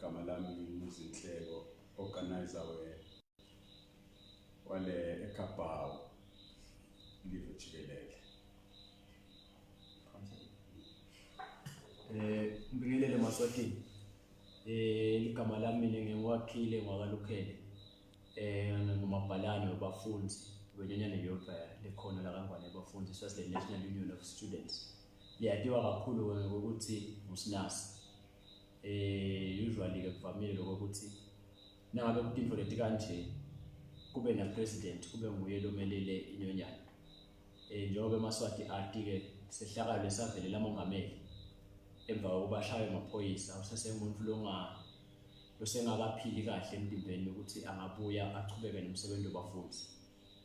Gama lami ngimuzinhleko organizer we wale eKapawu live jikelele. Eh ngibingelele maswatini. Eh ligama lami mina ngiwakhile ngwakalukhele. Eh ngumabhalane wabafundi wenyanyane yodwa lekhona la kaNgwane yabafundi sase National Union of Students. Liyatiwa kakhulu ke ngokuthi ngusinasi. Eh usually ke kuvamile lokho ukuthi nangabe kutinto leti kanje kube na president kube nguye lomelele inyonyana. Eh njengoba emaswati ati ke sehlakalo esavelela mongameli emva kokuba ashaywe amaphoyisa usesengumuntu longa losengakaphili kahle emtimbeni ukuthi angabuya achubeke nomsebenzi wabafundi.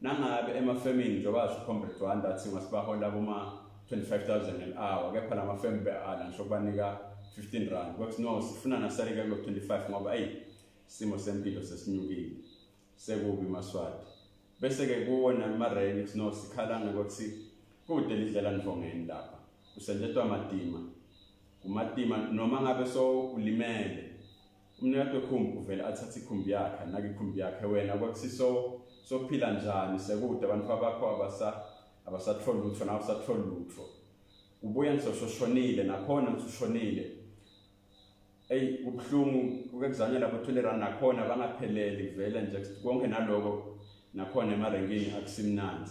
Nangabe emafemini njengoba asho uComrade Dwanda athi masibahola kuma-25000 an hour kepha la mafemu be-ala ngisho kubanika 15 rand kwathi no sifuna nasaleke kulo-25 ngoba eyi isimo sempilo sesinyukile sekubi maswati bese-ke kuwona mareni kuthi no sikhala ngokuthi kude lidlela nivongeni lapha kusentetwa matima kumatima noma ngabe so ulimele Umnewethu ekhumbi uvele athathe ikhumbi yakhe anake ikhumbi yakhe wena kwakusiso sophila njani sekude abantu bakho abasa abasatholi lutho nawe usatholi lutho ubuye ngisoshonile nakhona ngisushonile eyi kubuhlungu kukekuzanyela bo-twenty rand nakhona bangapheleli kuvele nje konke naloko nakhona emarenkini akusimnandi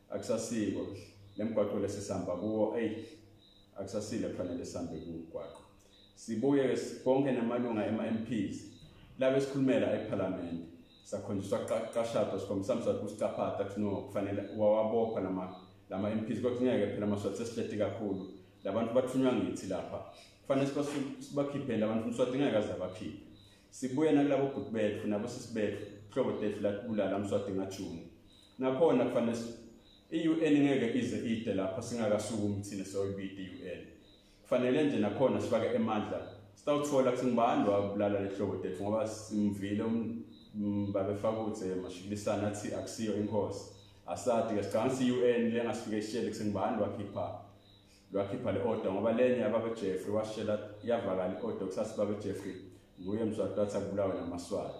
akusasiko lemgwaqo lesisihamba kuwo eyi akusasile kufanele sihambe kumgwaqo sibuye konke namalunga ema-mps labe sikhulumela ephalamende sakhonjiswa kuqashado sikhombisa mswati kusicaphatha kuthi no kufanele wawabopha lama-mps kodwa ngeke phela amaswati sesihleti kakhulu labantu bathunywa ngithi lapha kufanele sibakhiphele abantu umswati ngeke aze abakhiphe sibuye nakulabo bhuti bethu nabo sisi bethu hlobo tethu latibulala mswati ngajuni Nakhona kufanele i-UN ngeke ize ide lapho singakasukumi thina soyibidi i-UN. Kufanele nje nakhona sifake emandla. Sitawuthola ukuthi ngibani wabulala lehlobo tethu ngoba simvile um, um, babefakuthe mashikilisana athi akusiyo inkosi. Asadi ke sicabanga ukuthi i-UN lengasifike ishele ukuthi ngibani wakhipha lwakhipha le order ngoba lenye ababe Jeffrey washela yavakala i order kusasa babe Jeffrey nguye mswati wathi akubulawe namaswati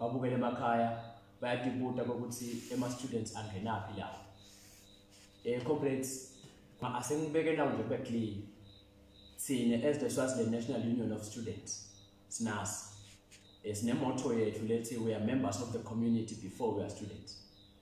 babukele emakhaya bayadibuta kokuthi ema-students angenaphi lawo um eh, corporates asengibeke nawo nje kube clean thina as the swaziland national union of students sinas um eh, sinemoto yethu lethi we are members of the community before we are students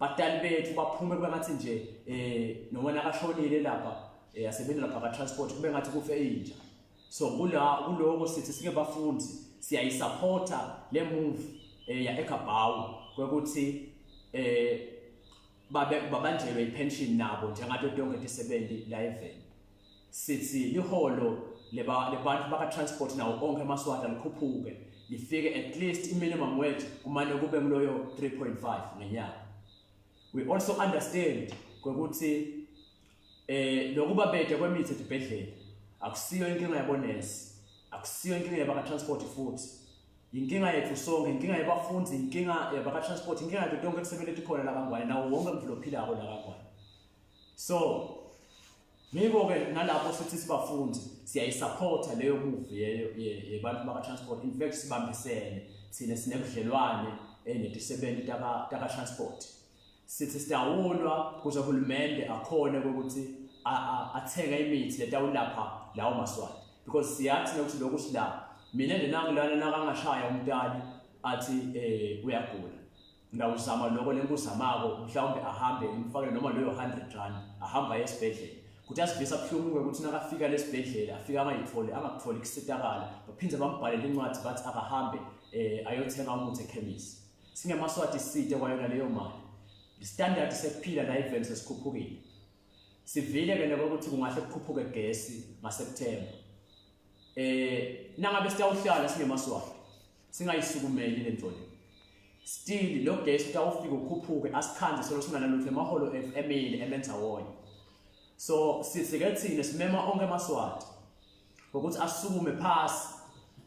Badali bethu baphume kube ngathi nje eh noma nakashonile lapha eh asebenza lapha ka transport kube ngathi kufe inja. So kula kuloko sithi sike bafundi siyayisupporta le move eh ya eKabawu kwekuthi eh babe babanjelwe ipension nabo njengathi tonke isebenzi la eveni. sithi liholo lebantfu bakatransport nawo onke amaswata likhuphuke lifike at least i-minimum wage kumane kube kuloyo 3.5 ngenyanga we also understand kwekuthi eh lokuba bede kwemithi edibhedlela akusiyo inkinga yabonesi akusiyo inkinga yabakatransport futhi inkinga yethu sonke inkinga yabafundi inkinga yabakatransport inkinga yethu tonke kusebenza ethi khona la kangwane nawo wonke umdlalo ophilako la kangwane so Ngiko ke nalapho sithi sibafundi siyayisupporta leyo move yebantu baka transport in fact sibambisene thina sinebudlelwane eh, netisebenzi taka taka transport sithi sidawulwa kuze uhulumende akhone ukuthi athenga imithi letawulapha lawo maswati because siyathi nokuthi lokhu sila mina njenangilana nakangashaya umntali athi eh uyagula ngawuzama lokho lenguzamako mhlawumbe ahambe ngimfakele noma leyo 100 rand ahamba esibhedlela kuthi asivisa buhlungu ukuthi nakafika lesibhedlela afika angayitholi angakutholi kusitakala baphinde bambhalele incwadi bathi akahambe eh ayothenga umuthi ekhemisi singemaswati side kwayona leyo mali standard sekuphila la event sesikhuphukile sivile ke nabo ukuthi kungahle kukhuphuke gesi ngaSeptember eh nangabe siyawuhlala sinemaswati singayisukumeli lenjoli still lo guest utawufika ukhuphuke asikhanze solo singanalutho emaholo emile emenza wonye so sisike thina simema onke amaswati ngokuthi asukume phasi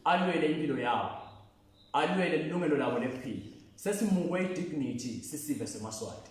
alwele impilo yawo alwele ilungelo labo lephila sesimukwe idignity sisive semaswati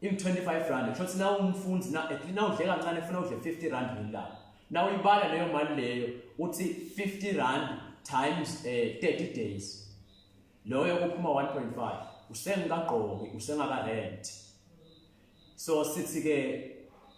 in 25 rand kusho ukuthi nawe umfundi na at least nawudle kancane ufuna udle 50 rand ngelanga nawe uyibala leyo mali leyo uthi 50 rand times eh 30 days loyo kuphuma 1.5 usengikagqoki usengaka rent so sithi ke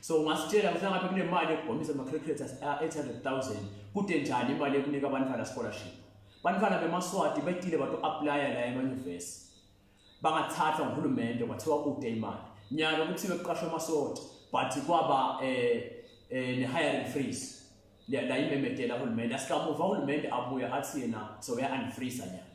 so ungasitshela ukuthi ngabe kunemali ekugomisa ama-cricket a-800000 kude njani imali ekunika abantwana scholarship bantwana bemaswati betile bathi u-aplaya la emanyuvesi bangathathwa nguhulumende kwathiwa kude imali nyalo kuthiwe kuqashwa amaswati but kwaba um um ne-hiring freeze la imemedela uhulumende asikamuva uhulumende abuye athi yena so uya-unfreeza nyalo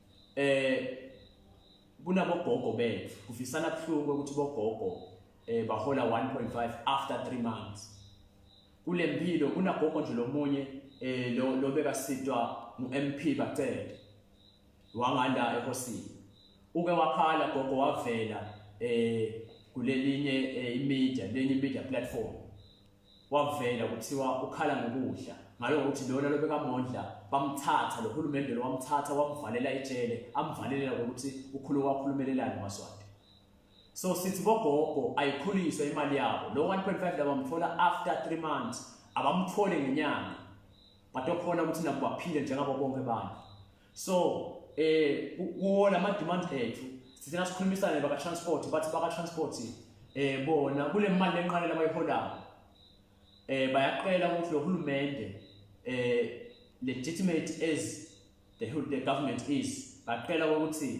eh kunabogogo bethu kufisana kuhluke ukuthi bogogo eh bahola 1.5 after 3 months kule mpilo kunagogo nje lomunye eh lo lobeka sitwa uMP bacede wanganda ehosini uke wakhala gogo wavela eh kulelinye eh, imedia lenye media platform wavela kuthiwa ukhala ngokudla ngalo ukuthi lona lobekamondla bamthatha lo hulumende lo wamthatha wamvalela ejele amvalelela ngokuthi ukhulu kwakhulumelelana maswati so sithi bogogo ayikhuliswe imali yabo lo 1.5 labamthola after 3 months abamthole ngenyanga badokhona ukuthi nabo baphile njengabo bonke abantu so eh kuwo lama demand ethu sithina sikhulumisane baka transport bathi baka transport eh bona kule mali enqane labayiholayo eh bayaqela ukuthi lo hulumende eh legitimate as the, the government is baqela ukuthi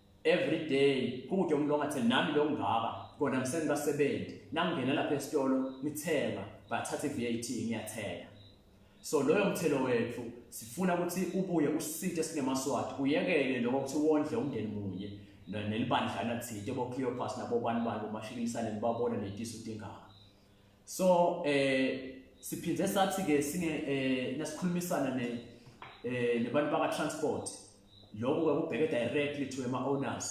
every day kude umlonga athi nami lo ngaka kona ngisengibasebenzi nangingena lapha esitolo ngithenga bathatha i-VAT ngiyathenga so loyo mthelo wethu sifuna ukuthi ubuye usithe sinemaswati uyekele lokho ukuthi wondle umndeni munye nelibandlana thide bo-cleopas nabobani bani umashikilisane nibabona netisu tingaka so eh siphinde sathi ke singe eh nasikhulumisana ne eh nebantu baka transport lokho ke kubheke directly to ema owners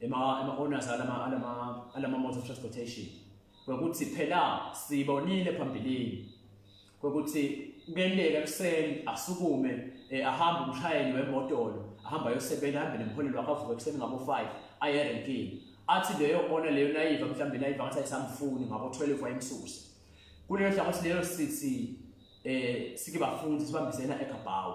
ema ema owners alama alama alama motor transportation ukuthi phela sibonile phambilini kokuthi kuyenteka ekuseni asukume eh, ahambe umshayeli wemotolo ahamba ayosebenza ahambe nemholelo wakhe avuke ekuseni ngabo-5 aye erenkini athi leyo ona leyo nayiva mhlawumbe nayiva ngathi ayisamfuni ngabo-12 wayemsuse kuleyo hlangothi leyo sithi eh sike bafundi sibambisena eGabawu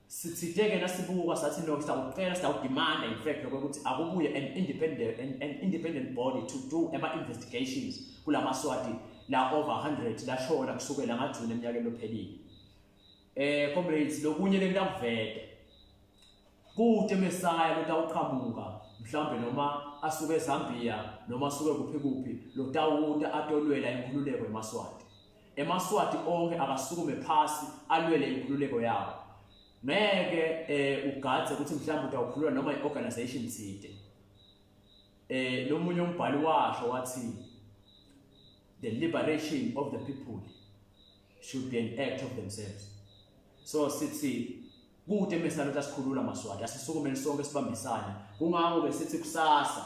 sithideke nasibuka sathi no siyakucela siyakudimanda in fact lokho ukuthi akubuye an independent an, an independent body to do ama investigations kulama swati la over 100 la shona kusukela ngajuni eminyakeni lophelile eh comrades lokunye lentamvede kude mesaya lotawuqhamuka mhlambe noma asuke eZambia noma asuke kuphi kuphi lotawuta atolwela inkululeko emaswati emaswati onke akasukume phasi alwele inkululeko yawo ngeke eh ugadze ukuthi mhlawumbe utawukhulula noma iorganization thide eh lomunye umbhali washo wathi the liberation of the people should be an act of themselves so sithi kude mesana ukuthi asikhulula maswati asisukumeni sonke sibambisane kungakho ke sithi kusasa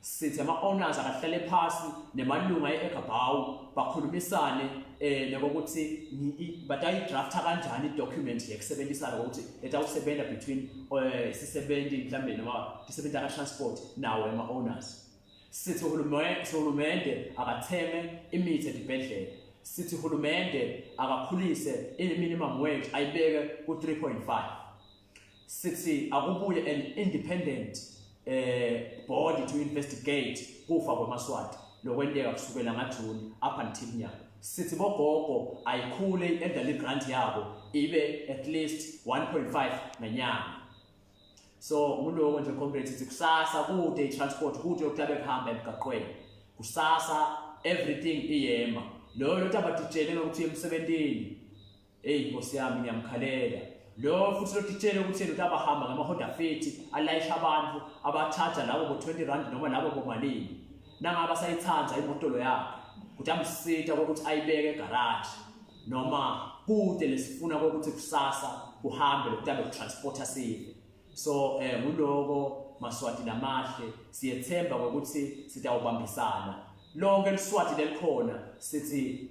Sithi ama-owners akahlale phasi nemalunga e-Ekabhawu bakhulumisane eh nokuthi batayidrafta kanjani i-document yekusebenzisana ukuthi etawusebenza between eh, isisebenzi mhlambe noma isebenzi ka-transport nawo ema-owners. Sithi uhulumende akatheme imithi edibhedlela sithi uhulumende akakhulise i-minimum wage ayibeke ku-3.5 sithi akubuye an independent eh body to investigate kufa kwamaswati lokwenteka kusukela ngaJune up until now sithi bogogo ayikhule i-elderly grant yabo ibe at least 1.5 ngenyanga so nguloko nje comrade sithi kusasa kude i-transport kude yokuhlabe kuhamba emgaqweni kusasa everything iyema loyo lothi abatitshele ngokuthi emsebentini Eyi nkosi yami ngiyamkhalela lo futhi lotitshele ukuthi ukuthi abahamba ngamahoda fethi alayisha abantu abathatha labo bo-20 rand noma labo bomalini nangaba sayithanda imotolo yakhe ukuthi amsita kokuthi ayibeke egaraji noma kude lesifuna kokuthi kusasa kuhambe lokuthi abe transporter sive so eh nguloko maswati namahle siyethemba ukuthi sitawubambisana lonke liswati lelikhona sithi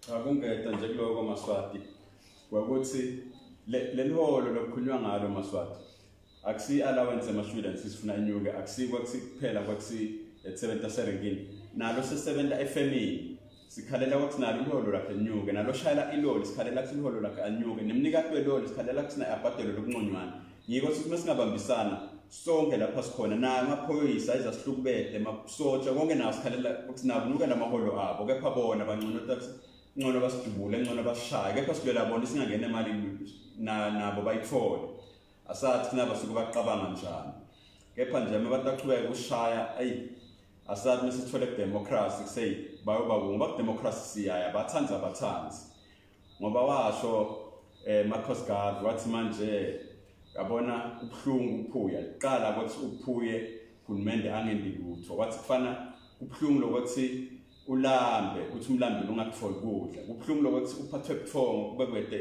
Cha kungeda nje kuloko Maswati kwakuthi leliholo lokukhulunywa ngalo Maswati akusi allowance ema students sifuna inyuke akusi kwakusi kuphela kwakusi esebenza serengini nalo sesebenza efemini sikhalela ukuthi nalo iholo lakhe linyuke nalo shayela iloli sikhalela ukuthi iholo lakhe anyuke nemnikati weloli sikhalela ukuthi naye abhadelwe lokunconywana Yiko sithi uma singabambisana sonke lapha sikhona naye amaphoyisa izasihlukubede masotsha konke nawo sikhalela sinakunuka namaholo abo kepha bona bangcono taxi ngcono basidubule ngcono basishaye kepha silwela bona singangena imali nabo bayithole asathi kunaba suke baqabanga njani kepha nje uma abantu baqhubeka ukushaya ayi asathi uma sithole kudemokhrasi kuseyi bayoba kungu bakudemokhrasi siyaya bathanzi abathanzi ngoba washo eh Marcos Garvey wathi manje yabona ubhlungu uphuya liqala ukuthi uphuye uhulumende angendi lutho wathi kufana kubhlungu lokuthi ulambe uthi umlambi ungakutholi kudla kubhlungu lokuthi uphathwe buthongo kube kwede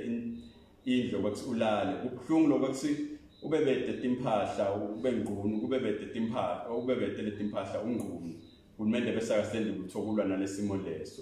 indlu ukuthi ulale kubhlungu lokuthi ube bede timphahla ube ngqunu kube bede timphahla ube bede letimpahla ungqunu uhulumende bese akasendi kuthokulwa nalesimo leso